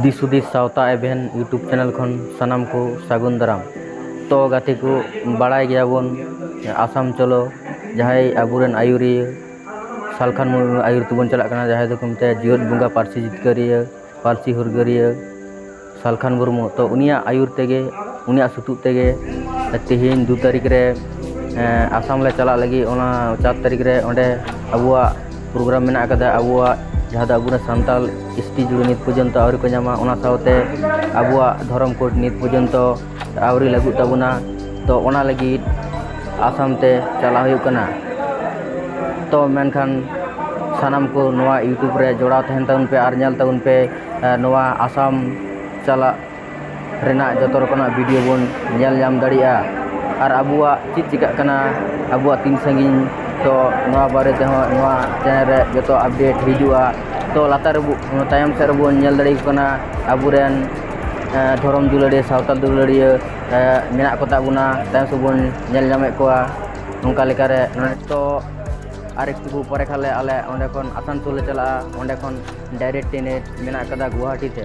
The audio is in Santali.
ᱫᱤᱥ ᱦᱩᱫᱤᱥ ᱥᱟᱶᱛᱟ ᱮᱵᱷᱮᱱ ᱤᱭᱩᱴᱩᱵᱽ ᱪᱮᱱᱮᱞ ᱠᱷᱚᱱ ᱥᱟᱱᱟᱢ ᱠᱚ ᱥᱟᱹᱜᱩᱱ ᱫᱟᱨᱟᱢ ᱛᱚ ᱜᱟᱛᱮ ᱠᱚ ᱵᱟᱲᱟᱭ ᱜᱮᱭᱟ ᱵᱚᱱ ᱟᱥᱟᱢ ᱪᱚᱞᱚ ᱡᱟᱦᱟᱸᱭ ᱟᱵᱚ ᱨᱮᱱ ᱟᱹᱭᱩᱨᱤᱭᱟᱹ ᱥᱟᱞᱠᱷᱟᱱ ᱢᱩᱨᱢᱩ ᱟᱹᱭᱩᱨ ᱛᱮᱵᱚᱱ ᱪᱟᱞᱟᱜ ᱠᱟᱱᱟ ᱡᱟᱦᱟᱸᱭ ᱫᱚᱠᱚ ᱢᱮᱛᱟᱭᱟ ᱡᱤᱭᱚᱫ ᱵᱚᱸᱜᱟ ᱯᱟᱹᱨᱥᱤ ᱡᱤᱛᱠᱟᱹᱨᱤᱭᱟᱹ ᱯᱟᱹᱨᱥᱤ ᱦᱩᱞᱜᱟᱹᱨᱤᱭᱟᱹ ᱥᱟᱞᱠᱷᱟᱱ ᱢᱩᱨᱢᱩ ᱛᱚ ᱩᱱᱤᱭᱟᱜ ᱟᱹᱭᱩᱨ ᱛᱮᱜᱮ ᱩᱱᱤᱭᱟᱜ ᱥᱩᱛᱩᱜ ᱛᱮᱜᱮ ᱛᱮᱦᱮᱧ ᱫᱩ ᱛᱟᱹᱨᱤᱠᱷ ᱨᱮ ᱟᱥᱟᱢ ᱞᱮ ᱪᱟᱞᱟᱜ ᱞᱟᱹᱜᱤᱫ ᱚᱱᱟ ᱪᱟᱨ ᱛᱟᱹᱨᱤᱠᱷ ᱨᱮ ᱚᱸᱰᱮ ᱟᱵᱚᱣᱟᱜ ᱯᱨᱳᱜᱨᱟᱢ ᱢᱮᱱᱟᱜ ᱠᱟᱫᱟ ᱟᱵᱚᱣᱟᱜ ᱡᱟᱦᱟᱸ ᱫᱚ ᱟᱵᱚ ᱨᱮᱱ ᱥᱟᱱᱛᱟᱲ ᱮᱥᱴᱤ ᱡᱩᱲᱩ ᱱᱤᱛ ᱯᱚᱨᱡᱚᱱᱛᱚ ᱟᱹᱣᱨᱤ ᱠᱚ ᱧᱟᱢᱟ ᱚᱱᱟ ᱥᱟᱶᱛᱮ ᱟᱵᱚᱣᱟᱜ ᱫᱷᱚᱨᱚᱢ ᱠᱳᱰ ᱱᱤᱛ ᱯᱚᱨᱡᱚᱱᱛᱚ ᱟᱹᱣᱨᱤ ᱞᱟᱹᱜᱩᱜ ᱛᱟᱵᱚᱱᱟ ᱛᱚ ᱚᱱᱟ ᱞᱟᱹᱜᱤᱫ ᱟᱥᱟᱢ ᱛᱮ ᱪᱟᱞᱟᱜ ᱦᱩᱭᱩᱜ ᱠᱟᱱᱟ ᱛᱚ ᱢᱮᱱᱠᱷᱟᱱ ᱥᱟᱱᱟᱢ ᱠᱚ ᱱᱚᱣᱟ ᱤᱭᱩᱴᱩᱵᱽ ᱨᱮ ᱡᱚᱲᱟᱣ ᱛᱟᱦᱮᱱ ᱛᱟᱵᱚᱱ ᱯᱮ ᱟᱨ ᱧᱮᱞ ᱛᱟᱵᱚᱱ ᱯᱮ ᱱᱚᱣᱟ ᱟᱥᱟᱢ ᱪᱟᱞᱟᱜ ᱨᱮᱱᱟᱜ ᱡᱚᱛᱚ ᱨᱚᱠᱚᱢᱟᱜ ᱵᱷᱤᱰᱤᱭᱳ ᱵᱚᱱ ᱧᱮᱞ ᱧᱟᱢ ᱫᱟᱲᱮᱭᱟᱜᱼᱟ ᱟᱨ ᱟᱵᱚᱣᱟᱜ ᱪᱮᱫ ᱪᱤᱠᱟᱹᱜ ᱠᱟᱱᱟ ᱟᱵᱚᱣᱟᱜ ᱛᱤᱱ ᱥᱟᱺᱜᱤᱧ ᱛᱚ ᱱᱚᱣᱟ ᱵᱟᱨᱮ ᱛᱮᱦᱚᱸ ᱱᱚᱣᱟ ᱪᱮᱱᱮᱞ ᱨᱮ ᱡᱚᱛᱚ ᱟᱯᱰᱮᱴ ᱦᱤᱡᱩᱜᱼᱟ ᱛᱚ ᱞᱟᱛᱟᱨ ᱨᱮᱵᱚ ᱛᱟᱭᱚᱢ ᱥᱮᱫ ᱨᱮᱵᱚᱱ ᱧᱮᱞ ᱫᱟᱲᱮᱭᱟᱠᱚ ᱠᱟᱱᱟ ᱟᱵᱚ ᱨᱮᱱ ᱫᱷᱚᱨᱚᱢ ᱫᱩᱞᱟᱹᱲᱤᱭᱟᱹ ᱥᱟᱶᱛᱟ ᱫᱩᱞᱟᱹᱲᱤᱭᱟᱹ ᱢᱮᱱᱟᱜ ᱠᱚᱛᱟ ᱵᱚᱱᱟ ᱛᱟᱭᱚᱢ ᱥᱮᱫ ᱵᱚᱱ ᱧᱮᱞ ᱧᱟᱢᱮᱫ ᱠᱚᱣᱟ ᱚᱱᱠᱟ ᱞᱮᱠᱟᱨᱮ ᱱᱚᱰᱮ ᱛᱚ ᱟᱨ ᱮᱠᱴᱩ ᱯᱚᱨᱮ ᱠᱷᱟᱱ ᱞᱮ ᱟᱞᱮ ᱚᱸᱰᱮ ᱠᱷᱚᱱ ᱟᱥᱟᱱᱥᱳᱞ ᱞᱮ ᱪᱟᱞᱟᱜᱼᱟ ᱚᱸᱰᱮ ᱠᱷᱚᱱ ᱰᱟᱭᱨᱮᱠᱴ ᱴᱨᱮᱱ ᱢᱮᱱᱟᱜ ᱠᱟᱫᱟ ᱜᱳᱦᱟᱴᱤ ᱛᱮ